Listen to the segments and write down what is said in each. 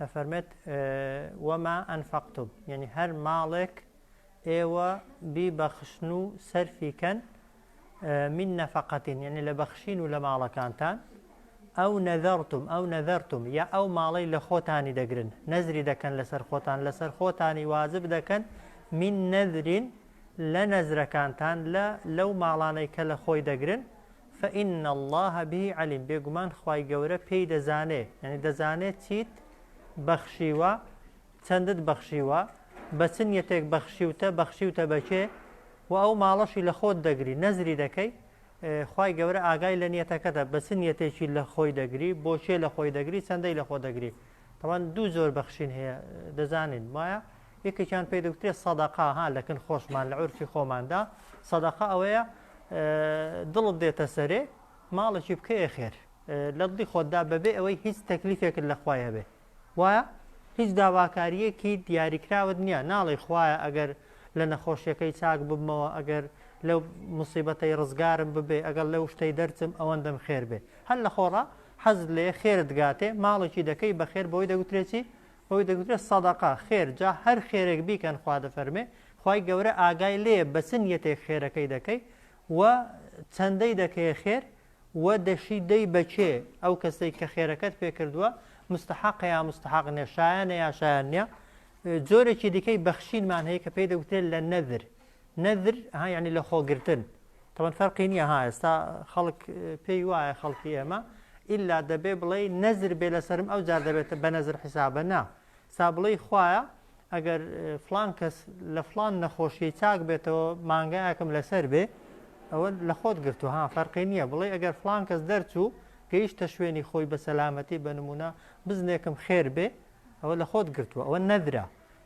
دەفەرمێت، وما انفقتم، یەنی هەر ماڵێک ئێوە بیبەخشن و سەرفی کەن، من نفقە، یەنی لە بەخشین و لە ماڵەکانتان، ئەو نذرتم، ئەو نذرتم، یا ئەو ماڵەی لە خۆتانی دەگرن، نەزری دەکەن لەسەر خۆتان، لەسەر خۆتانی واجب دەکەن، من نذر، لە نەزرەکانتان، لە لەو ماڵانەی کە لە خۆی دەگرن، فإن اللە به علیم، بێگومان خوای گەورە پێی دەزانێ، یانی دەزانێ چیت بەخشیوە، چەندت بەخشیوە، بە چ نیەتێک بەخشیوتە، بەخشیوتە بە کێ، و ئەو ماڵەشی لە خۆت دەگری، نەزری دەکەی، خوای گەورە ئاگای لە نیەتەکەتە، بە چ نیەتێکی لە خۆی دەگری، بۆ کێ لە خۆی دەگری، چەندەی لە خۆ دەگری. تەبعەن دوو جۆر بەخشین هەیە، دەزانین، وایە؟ یەکێکیان پێی دەوترێت سەدەقە ها لە کن خۆشمان لە عورفی خۆماندا سەدەقە ئەوەیە دڵت دێتە سەرێ ماڵێکی بکەیە خێر لە دڵی خۆتدا بەبێ ئەوەی هیچ تەکلیفێکت لە خوای هەبێ وایە هیچ داواکاریەکی دیاریکراوت نییە ناڵی خوایە ئەگەر لە نەخۆشیەکەی چاک ببمەوە ئەگەر لەو مصیبەتەی ڕزگارم ببێ ئەگەڵ لەو شتەی دەرچم ئەوەندەم خێر بێ هەر لە خۆڕە حەز لێ خێرت گاتێ ماڵێکی دەکەی بەخێر بۆی دەگوترێکی وەک دەگوترێ صدقە، خێر، جا هەر خێرێک بیکەن خوا دەفەرمێ خوای گەورە ئاگای لێیە بە چ نیەتێک خێرەکەی دەکەی و چەندەی دەکەیە خێر و دەشی دەی بە کێ، ئەو کەسەی کە خێرەکەت پێ کردووە مستەحەقە یا مستەحەق نیە، شایانە یا شایان نیە، جۆرێکی دیکەی بەخشینمان هەیە کە پێی دەگوترێ لە نەذر، نەذر ها یعنی لە خۆگرتن تەبەن فەرقی نییە ها ئێستا خەڵک پێی وایە خەڵکی ئێمە ئللا دەبێ بڵێ نەزر بێ لەسرم ئەو جار دەبێتە بە نەزر حیسابە نا سا بڵێ خویە ئەگەر فلان کەس لە فلان نەخۆشی چاک بێتەوە مانگایەکم لەسەر بێ ئەوە لە خۆت گرتو ها فەرقی نییە بڵێ ئەگەر فلان کەس دەرچوو گەیشتە شوێنی خۆی بە سەلامەتی بە نمونە بزنێکم خێر بێ ئەوە لە خۆت گرتووە ئەوە نەدرا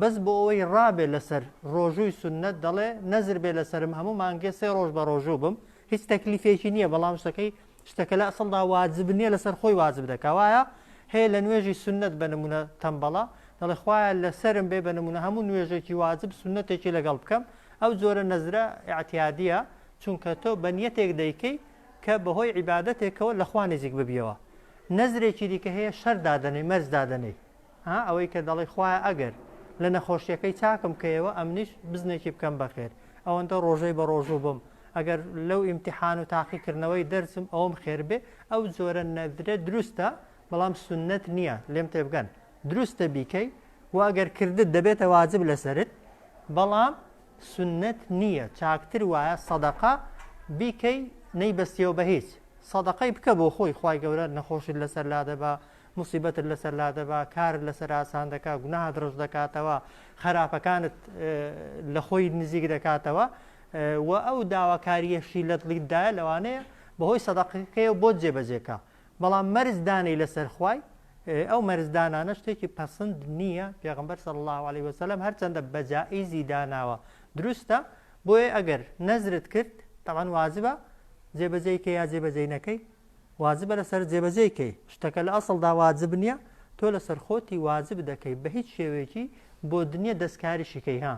بەس بۆ ئەوەی ڕابێ لەسەر ڕۆژووی سوننەت دەڵێ نەزر بێ لەسەرم هەموو مانگێ سێ ڕۆژ بە ڕۆژوو بم هیچ تەکلیفێکی نییە بەڵام شتەکەی شتەکە لە ئەسڵدا واجب نییە لەسەر خۆی واجب دەکا وایە هەیە لە نوێژی سوننەت بە نمونە تەمبەڵە دەڵێ خوایە لەسەرم بێ بە نمونە هەموو نوێژێکی واجب سوننەتێکی لەگەڵ بکەم ئەو جۆرە نەزرە ئاعتیادیە چونکە تۆ بە نیەتێک دەیکەی کە بەهۆی عیباەتێکەوە لەخوا نزیک ببیەوە نەزرێکی دیکە هەیە شەر دادەنەی مەرج دادەنەی ها ئەوەی کە دەڵێی خوایە ئەگەر لە نەخۆشیەکەی چاکم کەیەوە ئەمنیش بزنێکی بکەم بەخێر ئەوەندە ڕۆژەی بە ڕۆژوو بم ئەگەر لەو ئیمتحان و تاقیکردنەوەی دەرچم ئەوم خێر بێ ئەو جۆرە نەدرە دروستە بەڵام سنت نییە لێم تێبگەن دروستە بیکەی و ئەگەر کردت دەبێتە واجب لەسرت بەڵام سنت نییە چاکتر وایە سەدەقە بیکەی نەیبەستیەوە بە هیچ سەدەقەی بکە بۆ خۆی خی گەورە نەخۆشت لەسەر لا دەبا موسیبەتت لەسەر لادەبا، کارت لەسەر ئاسان دەکا، گوناهت ڕەش دەکاتەوە، خەراپەکانت لە خۆی نزیک دەکاتەوە و ئەو داواکارییەشی لە دڵی دایە لەوانەیە بەهۆی سەدەقەکەیەوە بۆت جێبەجێ کا، بەڵام مەرج دانێی لەسەر خوای، ئەو مەرج دانانە شتێکی پەسند نییە، پێغەمبەر صلی اللە علیە وسلم هەرچەندە بە جائیزی داناوە دروستە، بۆیە ئەگەر نەزرت کرد، تەبعەن واجبە، جێبەجێی کەی یا جێبەجێی نەکەی، واجبە لەسەرت جێبەجێی کەی. شتەکە لە ئەسڵدا واجب نیە تۆ لەسەر خۆتی واجب دەکەی بە هیچ شێوەیەکی بۆت نیە دەستکاریشی کەی ها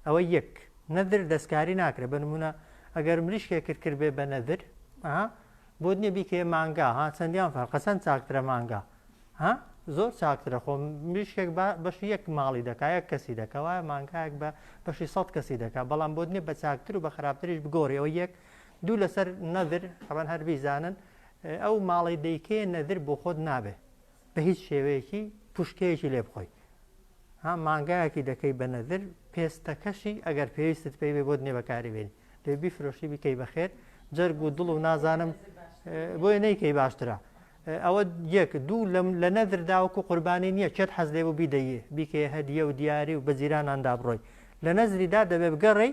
ئەوە یەک نەدر دەستکاری ناکرێ بە نمونە ئەگەر مریشکێ کرد کرد بێ بە نەدر ها بۆت نیە بیکەیە مانگا ها چەندیان فەرقە چەند چاکترە مانگا ها زۆر چاکترە خۆ مریشکێک بەش یەک ماڵی دەکا یەک کەسی دەکەوایە مانگایەک بە بەشی سەد کەسی دەکا بەڵام بۆت نیە بە چاکتر و بە خراپتریش بگۆڕیەوە یەک دوو لەسەر نەذر تەبەن هەر بیزانن ئەو ماڵەی دەیکەیە نەذر بۆ خۆت نابێ بە هیچ شێوەیەکی پوشکەیەکی لێ بخۆی ها مانگایەکی دەکەی بە نەذر پێستەکەشی ئەگەر پێویستت پێی بێ بۆت نێ بەکاری بێنی دێ بیفرۆشی بکەی بەخێر جەرگ و دڵ و نازانم بۆیە نەیکەی باشترە ئەوە یەک دوو لە نەذر داوەکو قوربانی نییە چێت حەز لێ بوو بیدەیە بیکەیە هەدیە و دیاری و بە جیراناندا بڕۆی لە نەزریدا دەبێ بگەڕێی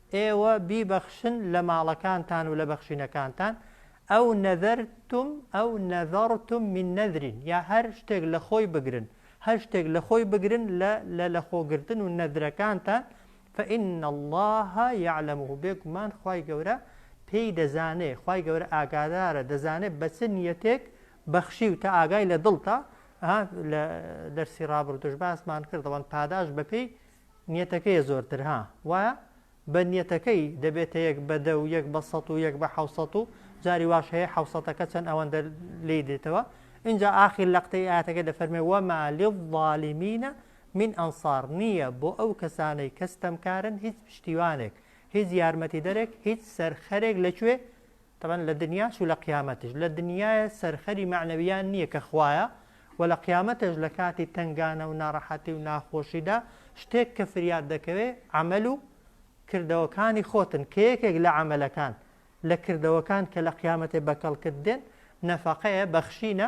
ئێوە بیبەخشن لە ماڵەکانتان و لە بەخشینەکانتان، ئەو نەذرتم ئەو نەذرتم من نذر یا هەر شتێک لە خۆی بگرن، هەر شتێک لە خۆی بگرن لە لە لەخۆگرتن و نەذرەکانتان، فإن اللە یعلمه بێگومان خوای گەورە پێی دەزانێ، خوای گەورە ئاگادارە دەزانێ بە چ نیەتێک بەخشیوتە ئاگای لە دڵتە، ها لە دەرسی ڕابردووش باسمان کرد دەڵێن پاداشت بەپێی نیەتەکەیە زۆرتر ها وایە؟ بە نیەتەکەی دەبێتە یەک بە دە و یەک بە سەد و یەک بە حەوسەت و جاری واش هەیە حەوسەتەکە چەند ئەوەندە لێی دێتەوە ئینجا ئاخیر لەقتەی ئایەتەکە دەفەرمێ وەما للظالمین من انصار نییە بۆ ئەو کەسانەی کە ستەمکارن هیچ پشتیوانێک هیچ یارمەتیدەرێک هیچ سەرخەرێک لە کوێ تەبعەن لە دنیاش و لە قیامەتیش، لە دنیایە سەرخەری مەعنەویان نیە کە خوایە، وە لە قیامەتێش لە کاتی تەنگانە و ناڕەحەتی و ناخۆشیدا شتێک کە فریات دەکەوێ عەمەل و کردەوەکانی خۆتن کە یەکێک لە عەمەلەکان لە کردەوەکان کە لە قیامەتێ بە کەڵکت دێن نەفەقەیە، بەخشینە،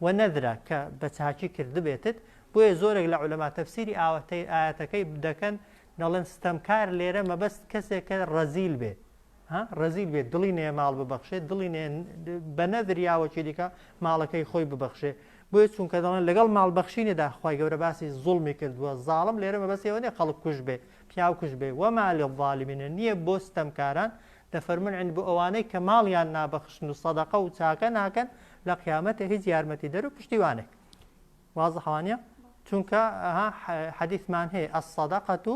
و نەذرە کە بە چاکی کردبێتت، بۆیە زۆرێک لە عولەما تەفسیری ئاەتەکەی دەکەن دەڵێن ستەمکار لێرە مەبەست کەسێکە رەزیل بێ، ها ڕەزیل بێت دڵی نەیە ماڵ ببەخشێت دڵی نەیە بە نەدر یاوەکی دیکە ماڵەکەی خۆی ببەخشێ بۆیە چونکە دەڵێن لەگەڵ ماڵ بەخشینێدا خی گەورە باسی زوڵمی کردووە زاڵم لێرە مەبەستەوە نیە خەڵک کوژ بێ پیاو کوژ بێ وەما لە ظالمینە نییە بۆ ستەمکاران دەفەرمن عند بۆ ئەوانەی کە ماڵیان نابەخشن و سەدەقە و چاکە ناکەن لە قیامەتە هیچ یارمەتی دەر و پشتیوانێک واز حوانە چونکە حەدیثمان هەیە ئەس سەدەقەت و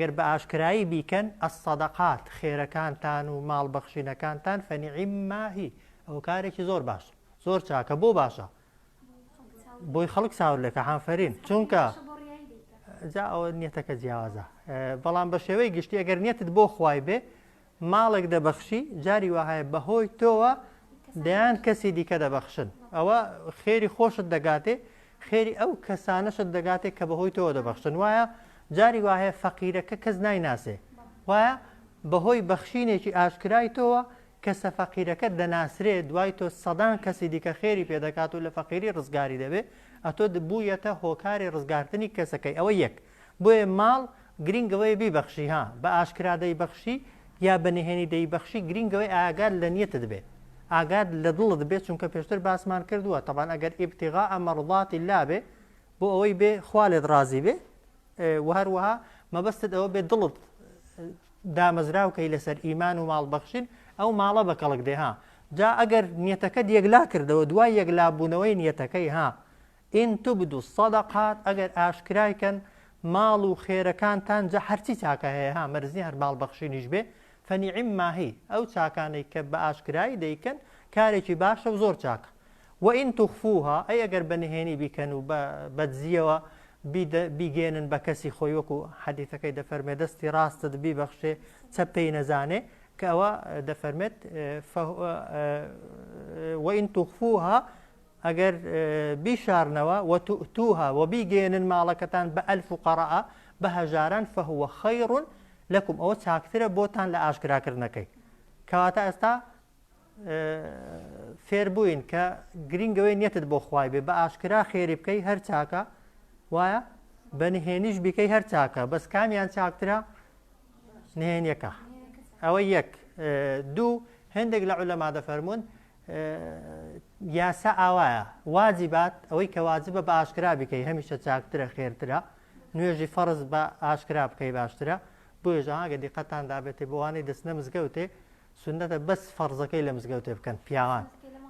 گەر بە ئاشکرایی بیکەن، الصدقات، خێرەکانتان و ماڵ بەخشینەکانتان، فنعم ما هی، ئەوە کارێکی زۆر باشە، زۆر چاکە، بۆ باشە؟ بۆی خەڵک چاور لێکە، حافرین، چونکە جا ئەوە نیەتەکە جیاوازە، بەڵام بە شێوەی گشتی ئەگەر نیەتت بۆ خوای بێ، ماڵێک دەبەخشی جاری وەهایە بەهۆی تۆوە دەیان کەسی دیکە دەبەخشن ئەوە خێری خۆشت دەگاتێ خێری ئەو کەسانەشت دەگاتێ کە بەهۆی تۆوە دەبەخشن وایە جاری وایە فەقیرەکە کەس نایناسێ وایە بەهۆی بەخشینێکی ئاشکرای تۆوە کەسە فەقیرەکە دەناسرێ دوای تۆ سەدان کەسی دیکە خێری پێدەکات و لە فەقیری ڕزگاری دەبێ ئەتۆ بوویەتە هۆکاری ڕزگارتنی کەسەکەی ئەوە یەک بۆیە ماڵ گرینگ ئەوەیە بیبەخشی ها بە ئاشکرا دەیبەخشی یا بە نهێنی دەیبەخشی گرینگ ئەوەی ئاگات لە نیەتت بێ ئاگات لە دڵت بێ چونکە پێشتر باسمان کردووە تەبان ئەگەر ئیبتیغاء مەڕضات اللە بێ بۆ ئەوەی بێ خوا لێت ڕازی بێ و هەروەها مەبەستت ئەوە بێ دڵت دامەزراو کەی لەسەر ئیمان و ماڵ بەخشین ئەو ماڵە بە کەڵک دێ ها جا ئەگەر نیەتەکەت یەکلا کردەوە دوای یەکلا بوونەوەی نیەتەکەی ها ان تبدو الصدقات ئەگەر ئاشکرای کەن ماڵ و خێرەکانتان جا هەرچی چاکە هەیە ها مەرج نیە هەر ماڵ بەخشینیش بێ فنعما هی ئەو چاکانەی کە بە ئاشکرای دەیکەن کارێکی باشە و زۆر چاکە وان تخفوها ئەی ئەگەر بە نهێنی بیکەن و بە بەدزیەوە بیگەیەنن بە کەسی خۆی وەکو حەدیثەکەی دەفەرمێ دەستی ڕاستت بیبەخشێ چەپ پێی نەزانێ کە ئەوە دەفەرمێت وان تخفوها ئەگەر بیشارنەوە، وتوئتوها، و بیگەیەنن ماڵەکەتان بە، الفقراء، بە هەژاران، فهو خیر لکم، ئەوە چاکترە بۆتان لە ئاشکراکردنەکەی. کەواتە ئێستا فێربووین کە گرینگ ئەوەی نیەتت بۆ خوای بێ بە ئاشکرا خێری بکەی هەر چاکە وایە بە نهێنیش بیکەی هەر چاکە بەس کامیان چاکترە نهێنیەکە ئەوە یەک دوو هەندێک لە عولەما دەفەرمونون یاسا ئاوایە واجیبات ئەوەی کە واجبە بە ئاشکرا بیکەی هەمیشە چاکترە خێرترە نوێژی فەرز بە ئاشکرا بکەی باشترە بۆیێژە ئاگە دیقەتان دابێتێ بۆوانەی دەستنە مزگەوتێ سنەتە بەس فەرزەکەی لە مزگەوتێ بکەن پیاوان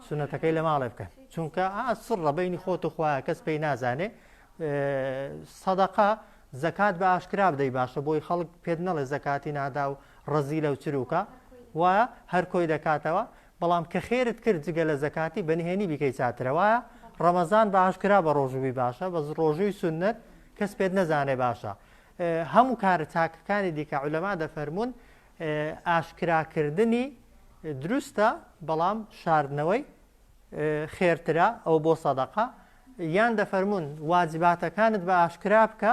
سنەتەکەی لە ماڵێ بکەن چونکە ئاسڕە بینی خۆت و خخوایە کەس پێی نازانێ سەدەقا زەکات بە ئاشکرا بدەی باشە بۆی خەڵک پێت نەڵێ زەکاتی نادا و ڕەزی لەو چروکە وایە هەر کۆی دەکاتەوە بەڵام کە خێرت کرد جگە لە زەکاتی بە نهێنی بیکەی چاترە وایە ڕەمەزان بە ئاشکرا بە ڕۆژووی باشە بەس ڕۆژووی سوننەت کەس پێت نەزانێ باشە هەموو کارە چاکەکانی دیکە عولەما دەفەرمونون ئاشکراکردنی دروستە بەڵام شاردنەوەی خێرترە ئەو بۆ سەدەقە یان دەفەرمونون واجباتەکانت بە ئاشکرا بکە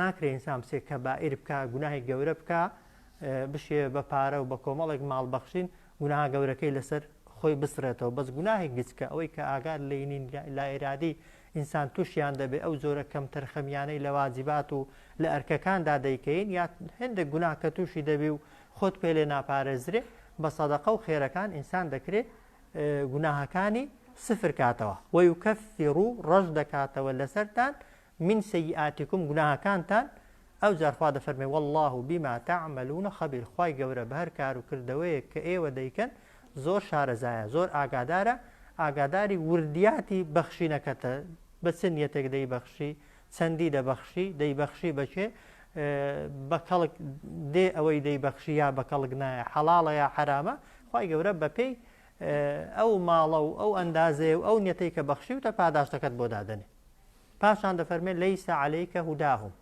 ناکرێ ئینسان بچێ کەبائیر بکا گوناهی گەورە بکا بشێ بە پارە و بە کۆمەڵێک ماڵ بەخشین گوناها گەورەکەی لەسەر خۆی بسرێتەوە بەس گوناهێک گچکە ئەوەی کە ئاگار لینین لا ئێرادی ئینسان تووشیان دەبێ ئەو جۆرە کەم تەرخەمیانەی لە واجبات و لە ئەرکەکاندا دەیکەین یا هەندێک گوناه کە تووشی دەبی و خۆت پێ لێ ناپارێزرێ بە سەدەقە و خێرەکان ئینسان دەکرێت گوناهەکانی سفر کاتەوە وەیکەفی ڕوو ڕەش دەکاتەوە لەسەرتان من سیئاتکم گوناهەکانتان ئەوجار خوا دەفەرمێ واللە بما تعملون خبیر خوای گەورە بەهەر کارو کردەوەیەک کە ئێوە دەیکەن زۆر شارەزایە زۆر ئاگادارە ئاگاداری وردیاتی بەخشینەکەتە بە چ نیەتێک دەیبەخشی چەندی دەبەخشی دەیبەخشی بەکێ بە کەڵک دێ ئەوەی دەیبەخشی یا بە کەڵک نایە حەڵاڵە یا حرامە خوای گەورە بەپێی ئەو ماڵە و ئەو ئەندازەیە و ئەو نیەتەی کە بەخشی وتە پاداشتەکەت بۆ دادەنێ پاشان دەفەرمێ لەیس علیک هداهم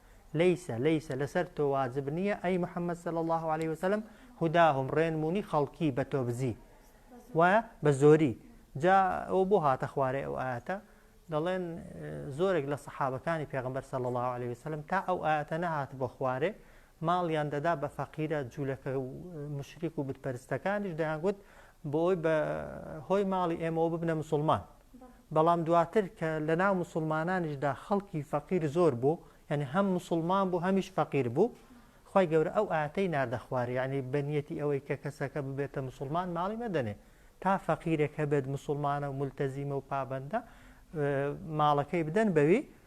لەیس لەیس لەسەر تۆ واجب نییە ئەی محەممەد صلی الله عليه وسلم هداهم ڕێنمونی خەڵکی بە تۆبزی وایە بە زۆری جا ئەو بۆ هاتە خوارێ ئەو ئاەتە دەڵێن زۆرێک لە سەحابەکانی پێغمبەر صلی الله عليه وسلم تا ئەو ئاەتە نەهات بۆ خوارێ ماڵیان دەدا بە فەقیرە جوولەکە و مشریک و بتپەرستەکانیش دەیانگوت بۆ ئەوی بە هۆی ماڵی ئێمەوە ببنە مسلمان بەڵام دواتر کە لە ناو موسوڵمانانیش دا خەڵکی فەقیر زۆر بوو یانی هەم موسوڵمان بوو هەمیش فەقیر بوو خوای گەورە ئەو ئایەتەی ناردە خوارێ یانی بە نیەتی ئەوەی کە کەسەکە ببێتە موسوڵمان ماڵی مەدەنێ تا فەقیرێک هەبێت موسوڵمانە و مولتەزیمە و پابەندە ماڵەکەی بدەن بەوی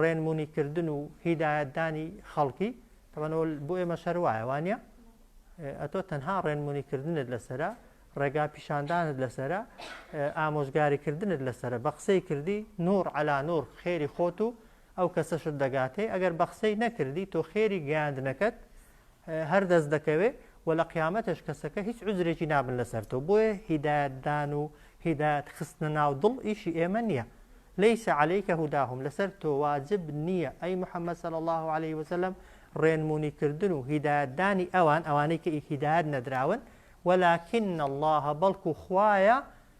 ڕێنمونی کردن و هیدایەت دانی خەڵکی تەبەن ئەوە بۆ ئێمەش هەر وایە وا نییە ئەتۆ تەنها ڕێنمونی کردنت لەسرە ڕێگا پیشاندانت لەسرە ئامۆژگاری کردنت لەسرە بە قسەی کردی نور علا نور خێری خۆت و ئەو کەسەشت دەگاتێ ئەگەر بە قسەی نەکردی تۆ خێری گەیاندنەکەت هەر دەست دەکەوێ و لە قیامەتێش کەسەکە هیچ عوزرێکی نابن لەسەر تۆ بۆیە هیدایەت دان و هیدایەت خستنە ناو دڵ ئیشی ئێمە نیە لیس علیک هداهم لەسەر تۆ واجب نیە ئەی محمد صلی اللە علیە وسلم ڕێنمونی کردن و هیدایەت دانی ئەوان ئەوانەی کە هیدایەت نەدراون ولکن اللە بەڵکو خوایە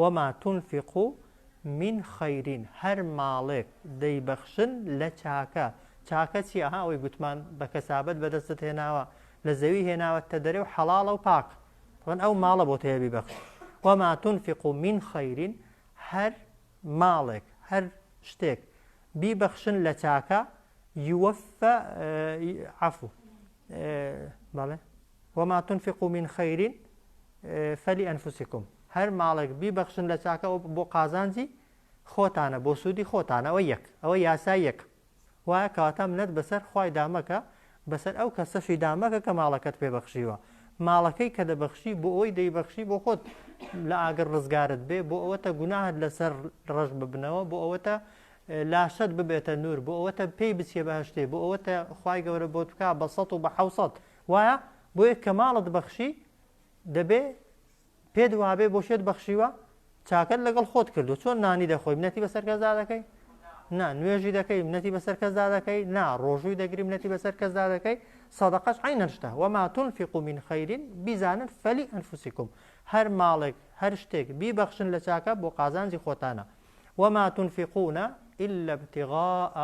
وما تنفقوا من خیر هەر ماڵێک دەیبەخشن لە چاکە، چاکە چی ئەها ئەوەی گوتمان بە کەسابەت بەدەستت هێناوە لە زەوی هێناوەتتە دەرێ و حەڵاڵە و پاک طبعا ئەو ماڵە بۆت هەیە بیبەخش وما تنفقوا من خیر هەر ماڵێک هەر شتێک بیبەخشن لە چاکە یوەفە عەفو بەڵێ وما تنفقوا من خیر فلانفسکم هەر ماڵێک بیبەخشن لە چاکە ئەو بۆ قازانجی خۆتانە بۆ سوودی خۆتانەوە یەک ئەوە یاسا یەک وایە کەواتە منەت بەسەر خی دامەکە بەسەر ئەو کەسەشی دامەکە کە ماڵەکەت پێبەخشیوە ماڵەکەی کە دەبەخشی بۆ ئەوی دەیبەخشی بۆ خۆت لە ئاگر ڕزگارت بێ بۆ ئەوەتە گوناهت لەسەر ڕژ ببنەوە بۆ ئەوەتە لاشەت ببێتە نور بۆ ئەوەتە پێی بچیە بەهەشتێ بۆ ئەوەتە خوای گەورە بۆت بکا بە سەد و بە حەوسەد وایە بۆیە کە ماڵت بەخشی دەبێ پێت وابێ بۆ شێت بەخشیوە چاکەت لەگەڵ خۆت کردو چۆن نانی دەخۆی منەتی بەسەر کەسدا دەکەی نا نوێژی دەکەی منەتی بەسەر کەسدا دەکەی نا ڕۆژووی دەگری منەتی بەسەر کەسدا دەکەی سەدەقەش عینەشتە وەما تونفق و من خەیرین بیزانن فەلی ئەنفوسیکم هەر ماڵێک هەر شتێک بیبەخشن لە چاکە بۆ قازانجی خۆتانە وما تنفقون الا ابتغاء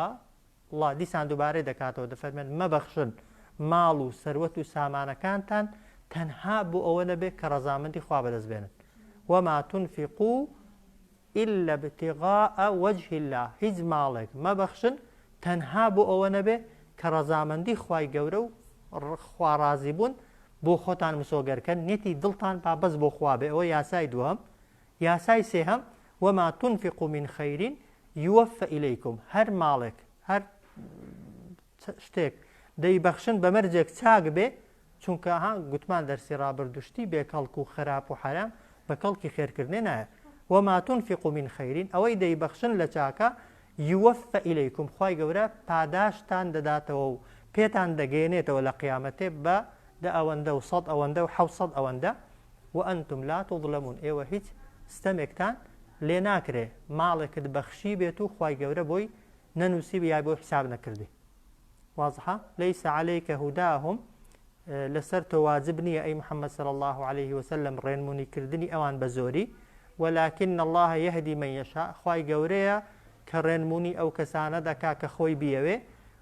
الله دیسان دووبارەی دەکاتەوە دەفەرمێن مەبەخشن ماڵ و سەروەت و سامانەکانتان تەنها بۆ ئەوە نەبێت کە ڕەزامەندی خوا بەدەست بێنن وما تنفقو إلا ابتغاء وجه الله هیچ ماڵێک مەبەخشن تەنها بۆ ئەوە نەبێ کە ڕەزامەندی خوای گەورە و خوارازی بوون بۆ خۆتان مسۆگەرکەن نێتی دڵتان با بەس بۆ خوا بێ ئەوە یاسای دووەم یاسای سێهەم، وما تنفقو من خیر یووفە الیکم، هەر ماڵێک، هەر شتێک دەیبەخشن بە مەرجێک چاک بێ، چونکە ها گوتمان دەرسی ڕابردوو شتی بێ کەڵک و خراپ و حەرام بە کەڵکی خێرکردنێ نایە. وما تنفقو من خیر ئەوەی دەیبەخشن لە چاکە یووفە الیکم خوای گەورە پاداشتتان دەداتەوە و پێتان دەگەیەنێتەوە لە قیامەتێ بە دە ئەوەندە و سەد ئەوەندە و حەوت سەد ئەوەندە وئەنتم لا توظلمون ئێوە هیچ ستەمێکتان لێ ناکرێ ماڵێکت بەخشی بێت و خوای گەورە بۆی نەنووسی یا بۆی حساب نەکردی واضحە ليس عليك هداهم لەسەر تۆ واجب نییە ئەی محەممەد صلی الله عليه وسلم ڕێنمونی کردنی ئەوان بە زۆری ولكن الله يهدي من يشاء خوای گەورەیە کە ڕێنمونی ئەو کەسانە دەکا کە خۆی بیەوێ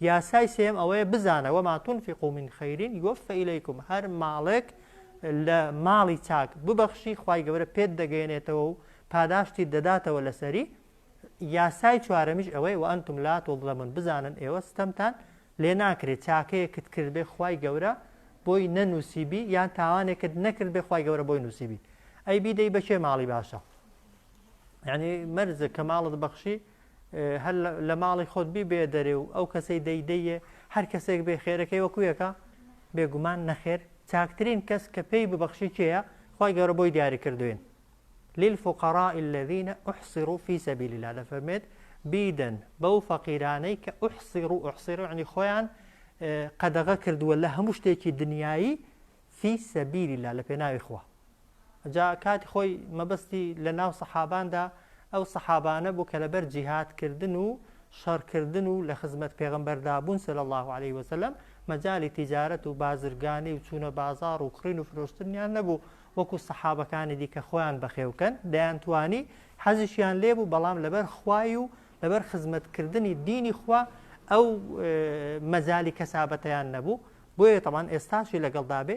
یاسای سێیەم ئەوەیە بزانە، وما تنفقوا من خیر یوفی الیکم، هەر ماڵێک لە ماڵی چاک ببەخشی خوای گەورە پێت دەگەیەنێتەوە و پاداشتیت دەداتەوە لەسەری، یاسای چوارەمیش ئەوەیە وانتم لا تظلمون بزانن ئێوە ستەمتان لێ ناکرێت چاکەیەکت کردبێ خوای گەورە بۆی نەنوسیبی یان تاوانێکت نەکردبێ خوای گەورە بۆی نوسیبی ئەی بیدەی بەکێ ماڵی باشە یانی مەرزە کە ماڵت بەخشی هەر لە ماڵی خۆت بیبەیە دەرێ و ئەو کەسەی دەیدەیێ هەر کەسێک بێ خێرەکەی وەکو یەکە بێگومان نەخێر چاکترین کەس کە پێی ببەخشی کێیە خی گەورە بۆی دیاری کردوین للفقراء الذين احصروا في سبيل الله دەفەرمێت بیدەن بەو فەقیرانەی کە احصر و احصر عنی خۆیان قەدەغە کردووە لە هەموو شتێکی دنیایی فی سەبیلی لا لە پێناوی خوا جا کاتی خۆی مەبەستی لە ناو سەحاباندا ئەو سەحابانە بوو کە لەبەر جیهاد کردن و شەڕ کردن و لە خزمەت پێغەمبەردا بوون صلی اللە علیه وسلم مەجالی تیجارەت و بازرگانی و چوونە بازاڕ و کڕین و فرۆشتنیان نەبوو وەکو سەحابەکانی دیکە خۆیان بەخێوکەن دەیانتوانی حەزیشیان لێبوو بەڵام لەبەر خوای و لەبەر خزمەت کردنی دینی خوا ئەو مەجالی کەسابەتیان نەبوو بۆیە تەمان ئێستاشی لەگەڵدابێ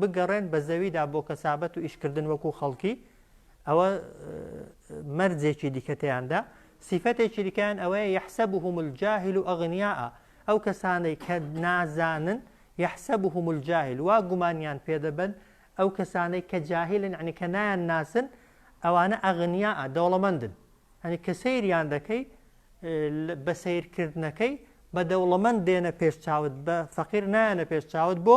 بگەڕێن بە زەویدا بۆ کەسابەت و ئیشکردن وەکو خەڵکی، ئەوە مەرجێکی دیکە تێیاندا، سیفەتێکی دیکەیان ئەوەیە یەحسەبوهم الجاهل ئەغنیاء، ئەو کەسانەی کە نازانن، یەحسەبوهم الجاهل، وا گومانیان پێ دەبەن، ئەو کەسانەی کە جاهلن یەعنی کە نایان ناسن، ئەوانە ئەغنیاء، دەوڵەمەندن، یەعنی کە سەیریان دەکەی، بە سەیرکردنەکەی، بە دەوڵەمەند دێنە پێش چاوت، بە فەقیر نایەنە پێش چاوت، بۆ؟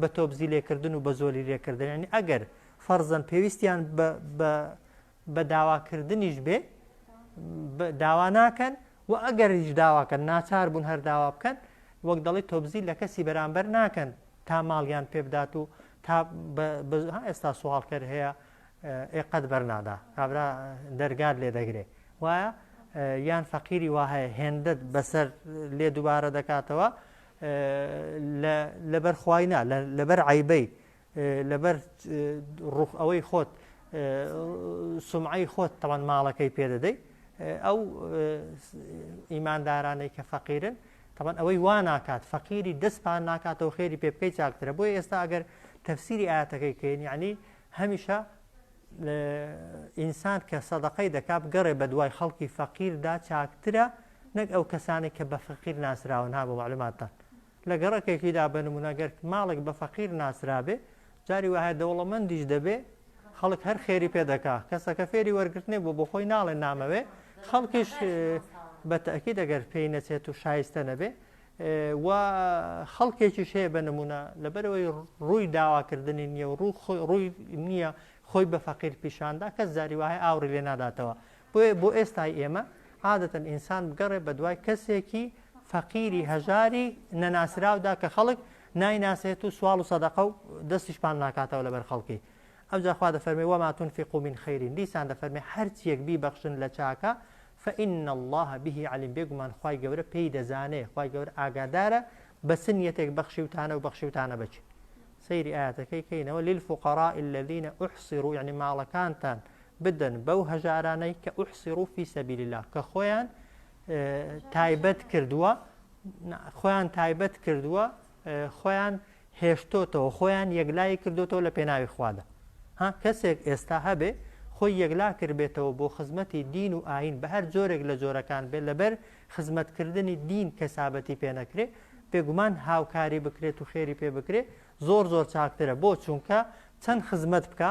بە تۆبزی لێکردن و بە زۆلی لێکردن ینی ئەگەر فەرزەن پێویستیان بە داواکردنیش بێ داوا ناکەن و ئەگەر هیچ داواکەن ناچار بوون هەر داوا بکەن وەک دەڵی تۆبزی لە کەسی بەرامبەر ناکەن تا ماڵیان پێ بدات و تا ئێستا سوواڵکەر هەیە ئێقەت بەرنادا کابرا دەرگات لێ دەگرێ وایە یان فەقیری وهەیە هێندت بەسەر لێ دووبارە دەکاتەوە لە لەبەر خوای نا لەبەر عیبەی لەبەر ڕوخ ئەوەی خۆت سمعی خۆت تەوان ماڵەکەی پێدەدەی ئەو ئیماندارانەی کە فەقیرن تەوان ئەوەی وا ناکات فەقیری دەستپان ناکاتەوە خێری پێ بکەی چاکترە بۆی ئێستا ئەگەر تەفسیری ئاەتەکەی کەین یعنی هەمیشە ئینسان کە سەدەقەی دەکات گەڕێ بە دوای خەڵکی فەقیردا چاکترە نەک ئەو کەسانەی کە بە فەقیر ناسراون ها بۆ مەعلوماتتان لە گەڕەکێکیدا بە نموونە گەر ماڵێک بە فەقیر ناسرابێ جاری وایە دەوڵەمەندیش دەبێ خەڵک هەر خێری پێ دەکا کەسەکە فێری وەرگرتنێ بۆ بۆ خۆی ناڵێ نامەوێ خەڵکیش بە تەکی دەگەر پێی نەچێت و شایستە نەبێ و خەڵکێکیش هەیە بە نمونە لەبەرەوەی ڕووی داواکردنی نییە و ڕووی نییە خۆی بە فەقیر پیشاندا کەس زاری وایە ئاوڕی لێ ناداتەوە بۆیە بۆ ئێستای ئێمە عادەتەن ئینسان بگەڕێ بە دوای کەسێکی فەقیری هەژاری نەناسراودا کە خەڵک نایناسێت و سوال و سەدەقە و دەستیشپان ناکاتەوە لەبەر خەڵکی ئەو جاخوا دەفەرمی وەماتون فیقومین خەیرین دیسان دەفەرمی هەرچیەک بیبەخشن لە چاکە فإن الله به علیم بێگومان خی گەورە پێی دەزانێ خی گەور ئاگادارە بە چ نیەتێک بەخشیوتانە و بەخشیوتانە بچی سەیری ئاەتەکەی کەینەوە لیل فقراء الذين احصروا یعنی ماڵەکانتان بدەن بەو هەژارانەی کە ئوحسیڕو فی سەبیل اللە کە خۆیان تایبەت کردووە خۆیان تایبەت کردووە خۆیان هێشتۆتەوە خۆیان یەکلای کردوتەوە لە پێناوی خوادا ها کەسێک ئێستا هەبێ خۆی یەکلا کردبێتەوە بۆ خزمەتی دین و ئاین بە هەر جۆرێک لە جۆرەکان بێت لەبەر خزمەتکردنی دین کەسابەتی پێنەکرێ بێگومان هاوکاری بکرێت و خێری پێ بکرێت زۆر زۆر چاکترە بۆ چونکە چەند خزمەت بکە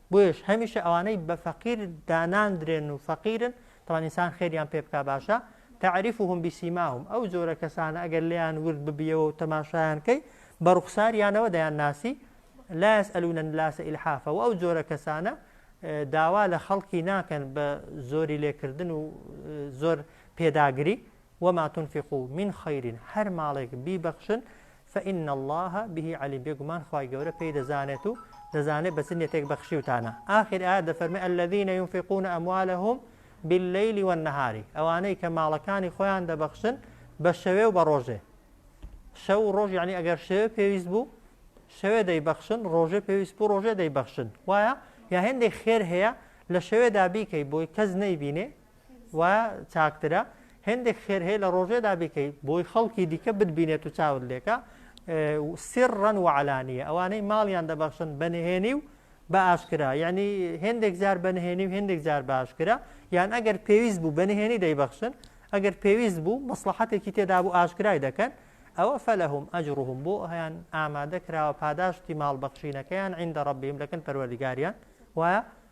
بۆیەش هەمیشە ئەوانەی بە فەقیر داناندرێن و فەقیرن تەوان ئینسان خێریان پێ بک باشە تعریفهم بسیماهم ئەو جۆرە کەسانە ئەگەر لیان ورد ببیەوە و تەماشایان کەی بە ڕوخساریانەوە دەیان ناسی لا يسألون الناس إلحافا و ئەو جۆرە کەسانە داوا لە خەڵکی ناکەن بە زۆری لێکردن و زۆر پێداگری وما تنفقوا من خیر هەر ماڵێک بیبەخشن فان اللە به علیم بێگومان خوای گەورە پێی دەزانێت و دەزانێت بە چ نیەتێک بەخشیوتانە ئاخر ئایە دەفەرمێ الذین ينفقون اموالهم بالليل والنهار ئەوانەی کە ماڵەکانی خۆیان دەبەخشن بە شەوێ و بە ڕۆژێ شەو و ڕۆژ یعنی ئەگەر شەوێ پێویست بوو شەوێ دەیبەخشن ڕۆژێ پێویست بوو ڕۆژێ دەیبەخشن وایە یا هێندێک خێر هەیە لە شەوێدا بیکەی بۆی کەس نەیبینێ وا چاکترە هەندێک خێر هەیە لە ڕۆژێدا بیکەی بۆی خەڵکی دیکە بتبینێت و چاون لێکە سڕەن و علانیە ئەوانەی ماڵیان دەبەخشن بەنهێنی و بە ئاشکرا یعنی هەندێک جار بەنهێنی و هەندێک جار باشکرا یان ئەگەر پێویست بوو بەنهێنی دەیبەخشن ئەگەر پێویست بوو مەسلحەتێکی تێدا بوو ئاشکرای دەکەن ئەوە فەلهم ئەجرهم بۆ هەیان ئامادە کراوە پاداشتی ماڵ بەخشینەکەیان عیندە ڕبیم لەکەن پەروەردگاریان وایە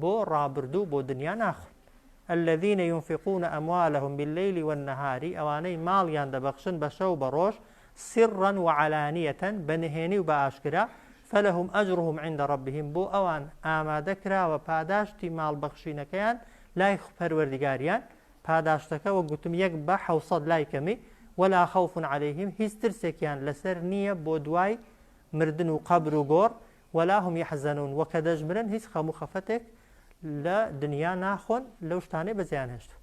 بۆ ڕابردوو بۆ دنیا ناخۆن الذین ینفقون اموالهم باللیل والنهار ئەوانەی ماڵیان دەبەخشن بە شەو بە ڕۆژ سرا وعلانیە بە نهێنی و بە ئاشکرا فلهم اجرهم عند ربهم بۆ ئەوان ئامادە کراوە پاداشتی ماڵ بەخشینەکەیان لای پەروەردگاریان پاداشتەکە وە گوتم یەک بە حوسەد لای کەمی ولا خوف عليهلەیهم هیچ ترسێکیان لەسەر نییە بۆ دوای مردن و قەبر و گۆڕ ولا هم یحزنون وە کە دەژمرن هیچ خەم و خەفەتێک لە دنیا ناخۆن لەو شتانەی بەجێیان هێشتوون.